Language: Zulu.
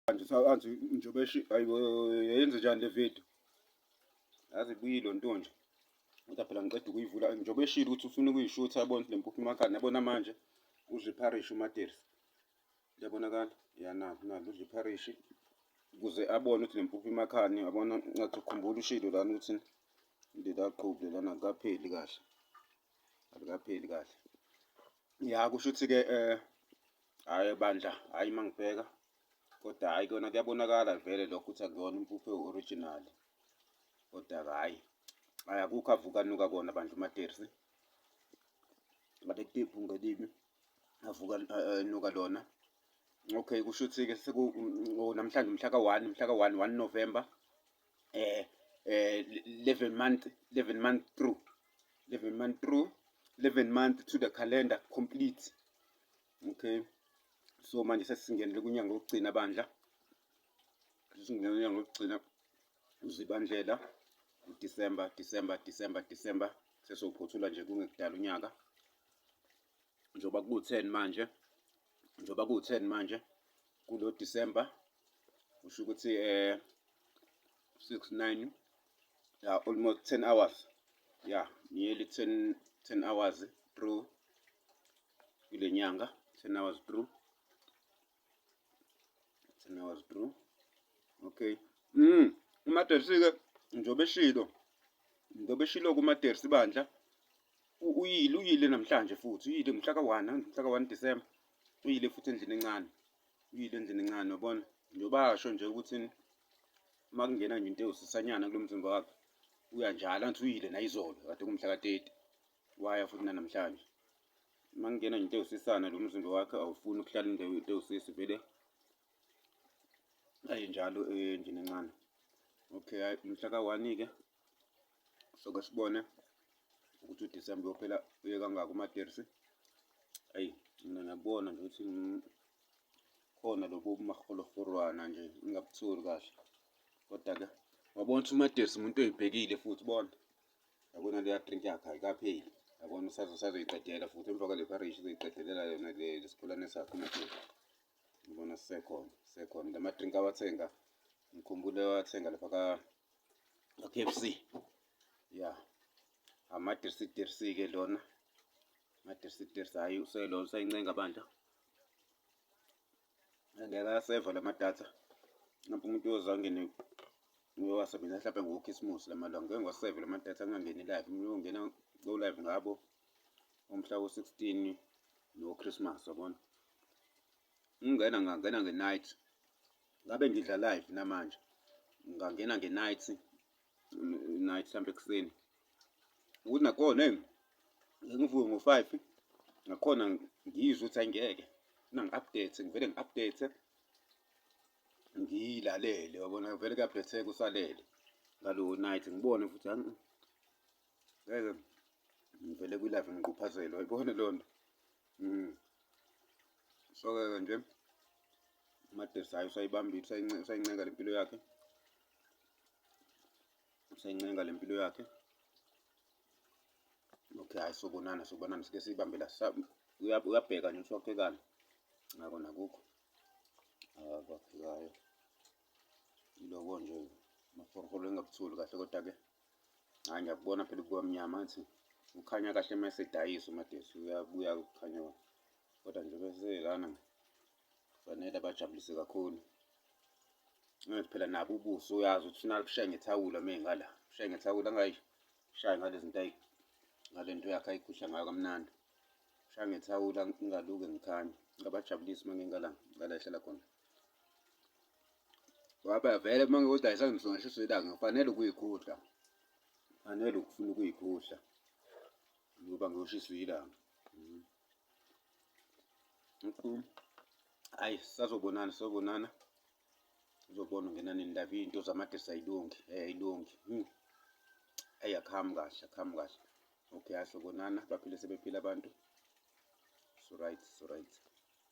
manje sakanzi njengoba eshi ayibo yenze njani le video yazi buyilo nto nje kodwa phela ngiqeda ukuyivula njengoba eshilo ukuthi ufuna ukuyishutha yabona le mpuphu imakhani yabona manje udla ipharishi umaterisi liyabonakala yanalo nalo udla ipharishi ukuze abone ukuthi le mpuphu imakhani yabona ngathi ukhumbula ushilo lana ukuthi lela qhubu lelana likapheli kahle alikapheli kahle ya kusho ukuthi-ke um eh, Hhayi bandla, hhayi uma ngibheka kodwa hhayi kona kuyabonakala vele lokho ukuthi akuyona impuphu ewu-original kodwa-ke hhayi hhayi akukho avukanuka kona bandla umatersi ngaletipu ngelibi avuka enuka lona okay kusho ukuthi-ke mm, oh, namhlanje mhla ka-one mhla ka-one one november eh eh 11 month 11 month through 11 month through 11 month to the calendar complete okay so manje sesingenele kunyanga wokugcina bandla sesingena kunyanga wokugcina uzibandlela uDecember December December December sesophothula nje kungekudala unyaka njengoba kuwu-ten manje njengoba kuwu-ten manje kulo December kusho ukuthi eh six nine ya almost ten hours ya nearly ten ten hours through kule nyanga ten hours through Thina was true. Okay. Mm. Umadersike njobe shilo. Njobe shilo kumadersi bandla. Uyile uyile namhlanje futhi uyile mhla ka-1 mhla ka-1 December. Uyile futhi endlini encane. Uyile endlini encane yabona. Njoba asho nje ukuthi makungena nje into ewusisanyana kulomzimba wakhe. Uyanjalo anthi uyile nayizolo kade kumhla ka-30. waya futhi nanamhlanje uma ngingena nje into ewusisana lo mzimba wakhe awufuni ukuhlala into ewusisi vele ayi njalo endlini encane okay hayi mhla ka-one-ke soke sibone ukuthi udisemba uyophela uye kangaki umaterisi ayi mina ngiyakubona nje ukuthi khona lobo bumaholofurwana nje ingabutholi kahle kodwa-ke wabona ukuthi umaterisi umuntu oyibhekile futhi bona yabona leya drink yakhe ayikapheli yabona usazoyiqedela futhi emva kwale parish uzoyiqedelela yona lesikhulane sakhe umathela ngibona sisekhona sisekhona la madrink awathenga ngikhumbule wathenga lapha ka k f c ya amadirsidirsi-ke lona amadirsidirsi hhayi uselona usayincenga bandla angeke aseva la madatha ngapha umuntu uyoze angene uyowasebenzisa mhlawumbe ngokhisimusi la malanga ngeke ngiwaseve la madatha angangeni live umuntu uyongena ko-live ngabo umhla wo-sixteen nochrismas yabona ngingena ngangena nge-night ngabe ngidla live namanje ngangena nge-night night mhlawumbe ekuseni ukuthi nakhona hey ngivuke ngo-five nakhona ngizwe ukuthi ayingeke mina ngi-update ngivele ngi-update ngiyilalele yabona vele kuyabhetheka usalele ngalo night ngibone futhi ngeke ngivele kwi-live ngiquphazelo ayibone loo nto mm. so-ke nje umadesi hayi usayibantu usayinceka le mpilo yakhe usencenga le mpilo yakhe okay hayi sobonana sobonana sike siyibambe la uyabheka nje ukuthi waphekani ngako nakukho abaphekayo iloko nje maforholo engabuthuli kahle kodwa-ke hhayi ngiyakubona phela kubamnyama athi ukhanya kahle uma esedayisa umadesi uyabuya kukhanya kodwa nje beselana Kufanele abajabulise kakhulu. Manje phela nabo ubuso uyazi ukuthi ufuna kushaye ngethawula uma engala. Ushaye ngethawula angayishayi ngale zinto ngale nto yakhe ayikhuhla ngayo kamnandi. Ushaye ngethawula ngingaluke ngikhanye. Ngabajabulisa uma ngingala ngala ehlala khona. Ngoba vele uma ngiwudayisa ngisongeshiswa ilanga ngifanele ukuyikhuhla. Kufanele ukufuna ukuyikhuhla ngoba ngiwushiswe ilanga. Mm-hmm. mkhulu hayi sazobonana sazobonana uzobona ungena nendaba iy'nto zamadesi ayilungi um eh, ayilungi hmm. eyi akuhambi kahle akuhambi kahle okay asobonana baphile sebephile abantu so right so right